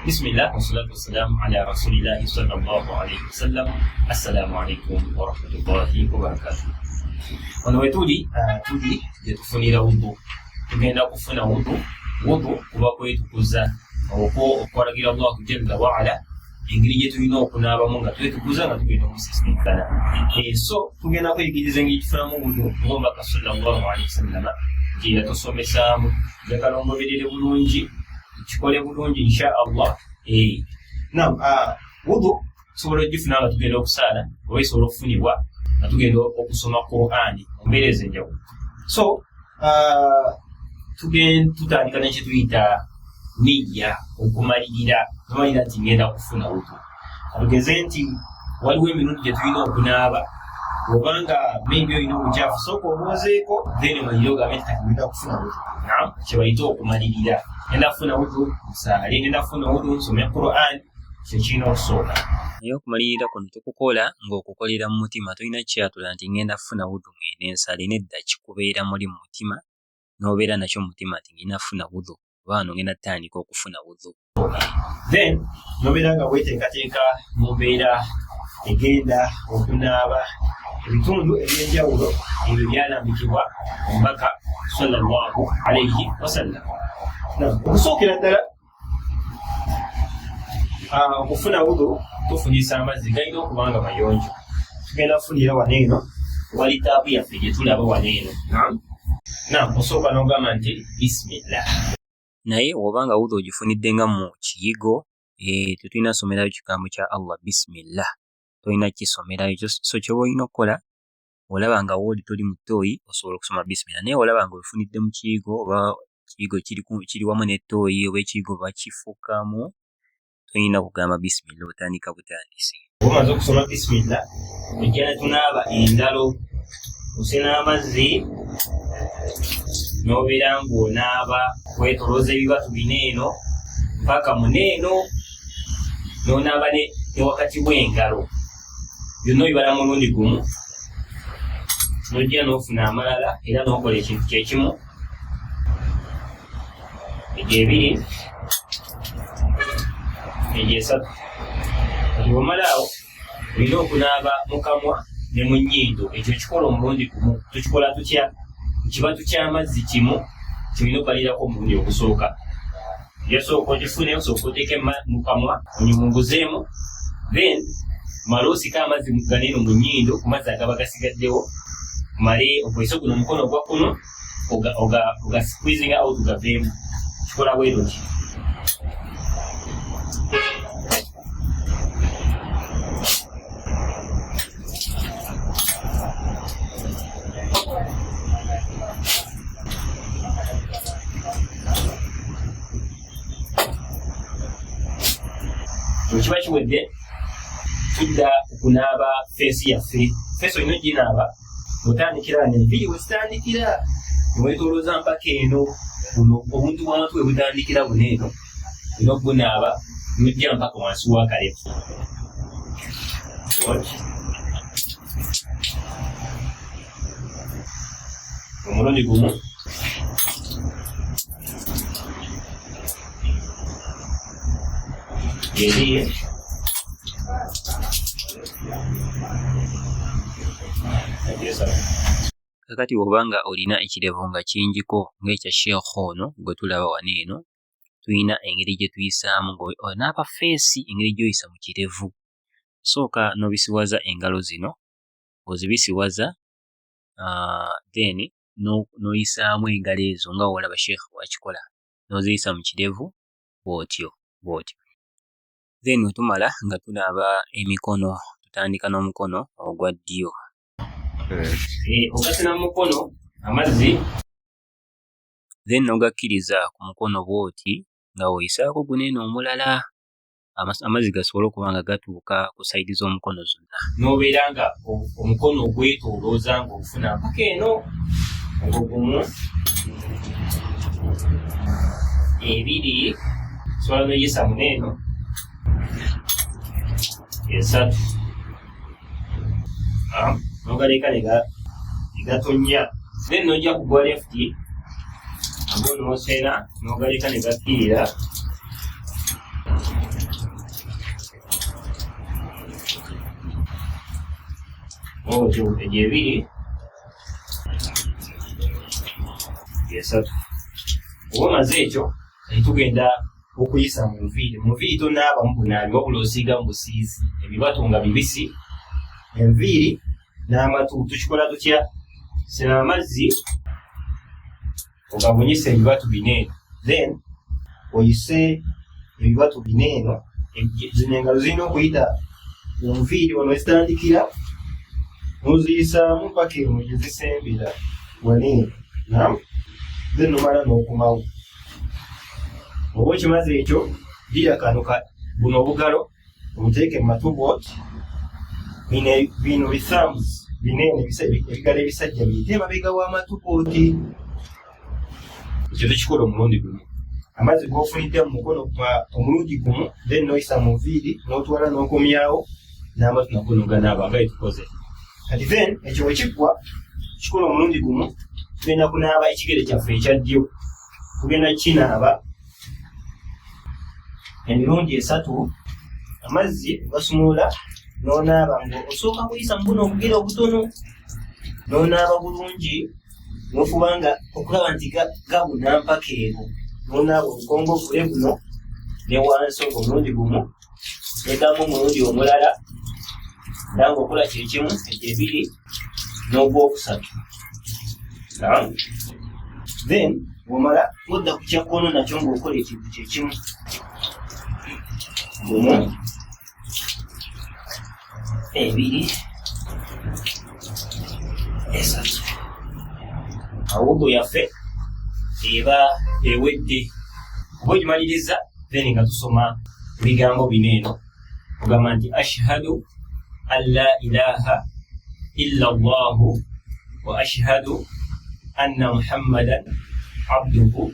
bismillah wasalatu wassalamu ala rasulillahi sallallahu alaihi wasallam assalamu alaikum warahmatullahi wabarakatuh wano wetuli uh, tuli gyetufunira wudu tugenda kufuna wudu wudu kuba kwetukuza okwo okwalagira allahu jalla waala engeri gyetulina okunaabamu nga twetukuza nga tugenda omusisinkana eh, so tugenda kweyigiriza engeri tufunamu wudu ngomubaka sallallahu alaihi wasallama gyeyatusomesaamu njagala omuberere bulungi kikole bulungi insha allah eh. nam ah, wudu tusobola okugifuna nga tugenda okusaala oba esobola okufunibwa nga tugenda okusoma qurani ombeera ezo enjawulo so ah, tugenda tutandika nekyetuyita niyya okumalirira tumalira nti ngenda kufuna wudu tugeze nti waliwo emirundi gye tulina okunaaba obanga maybe olina obukyafu sooka obwozeeko then malire ogambe nti kati ngenda kufuna wudu nam kyebayita okumalirira ngenda kufuna wudu nsaale ngenda kufuna wudu nsome quran kyekirina okusooka naye okumalirira kuno tukukola ng'okukolera mu mutima tolina kyatula nti ngenda kufuna wudu ngende nsale nedda kikubeera muli mu mutima n'obeera nakyo mu mutima nti ngenda kufuna wudhu oba wano ngenda tutandika okufuna wudhu then n'obeera nga weteekateeka mu mbeera egenda okunaaba ebitundu ebyenjawulo ebyo byalambikibwa omubaka sallallahu alaihi wasallam okusookera ddala ah, okufuna wudu tufunyisa amazzi galina okuba nga mayonjo tugenda kufunira wano eno wali taapu yaffe gye tulaba wano eno nam osooka n'ogamba nti bisimillah naye oba nga wudu ogifunidde nga mu kiyigo eh, tetulina somerayo kigambo kya allah bisimillah tolina kisomerayo so kyoba olina okukola olaba nga wooli toli mu ttooyi osobola okusoma bisimira naye olaba nga ofunidde mu kiyigo oba ekiyigo kiri wamu n'ettooyi oba ekiyigo bakifukamu tolina kugamba bisimira otandika butandisi omaze okusoma bisimira ojja netunaaba engalo osena amazzi n'obeera ng'onaaba wetolooza ebibatu bina eno mpaka muneeno n'onaaba ne wakati w'engalo byonna obibala mulundi gumu nojja n'ofuna amalala era n'okola ekintu kyekimu egyo ebiri egyo esatu kati bwomala awo olina okunaaba mu kamwa ne mu nnyindo ekyo kikola omulundi gumu tukikola tutya kibatu ky'amazzi kimu kyolina okubalirako omulundi ogusooka yasooka ogifune osooka oteeke mu kamwa onyumunguzeemu then male osika amazzi muganeeno mu nyindo ku mazzi agaba gasigaddewo male okozese guno omukono ogwa kuno ogasqueezing out gaveemu kikola bweruti bwekiba kiwedde tudda okunaaba feesi yaffe feesi olina oginaaba otandikira wano enviiri wezitandikira newetolooza mpaka eno obuntu bwamatu webutandikira buno eno olina okugunaaba nojja mpaka wansi wakalevu omulundi gumu yeriye kakati wobanga olina ekirevu nga kingiko ng'ekya sheekh ono gwe tulaba wano eno tulina engeri gye tuyisaamu n'aba feesi engeri gy'oyisa mu kirevu osooka n'obisiwaza engalo zino ng'ozibisiwaza ah, then n'oyisaamu engalo ezo nga wolaba sheekh wakikola n'oziyisa mu kirevu bw'otyo bw'otyo then wetumala nga tunaaba emikono tutandika n'omukono ogwa ddyo eh, ogasina mu mukono amazzi then nogakkiriza ku mukono bwoti nga oyisaako guno eno omulala amazzi gasobole okuba nga gatuuka ku saidi z'omukono zonna nobeera nga omukono ogwetolooza nga ofuna mpaka eno ogugumu ebiri sobola noyisa muno eno esatu nogaleka negatonnya then nojja kugwa left ago nosena nogaleka negakkirira otyo egyo ebiri esatu oba omaze ekyo kati tugenda okuyisa mu nviiri mu nviiri tonaaba mu bunaabi wabula osiiga mu busiizi ebibatu nga bibisi enviiri n'amatu tukikola tutya sena amazzi ogabunyisa ebibatu bina eno then oyise ebibatu bina eno zino engalo zirina okuyita mu nviiri wano wezitandikira muziyisaamu paka emu gyezisembera wani nam ze nomala n'okumawo oba okimaze ekyo gira kano buno obugalo obuteeke mu matubot bino bithamus bineene ebigalo ebisajja biyite emabega w'amatuboti ekyo tekikola omulundi gumu amazzi gofunidde mu mukono gwa omulundi gumu then noyisa mu nviiri n'otwala n'okomyawo n'amatu nago noganaaba nga etukoze kati then ekyo wekiggwa kikola omulundi gumu tugenda kunaaba ekigere kyaffe ekya ddyo tugenda kukinaaba emirundi esatu amazzi ogasumulula n'onaaba nga osooka kuyisa mu buno obugere obutono n'onaaba bulungi nofuba nga okulaba nti gabuna mpaka eno nonaaba obukongo obule buno ne wansi ogwo omulundi gumu nedamu omulundi omulala nanga okola kyekimu egyo ebiri n'ogwokusatu then omala odda ku kyakkono nakyo ngaokola ekintu kyekimu gumu ebiri esatu awudu yaffe eba ewedde oba ogimaliriza then nga tusoma ebigambo bino eno ogamba nti ashhadu an la ilaha illa llahu wa ashhadu anna muhammadan abduhu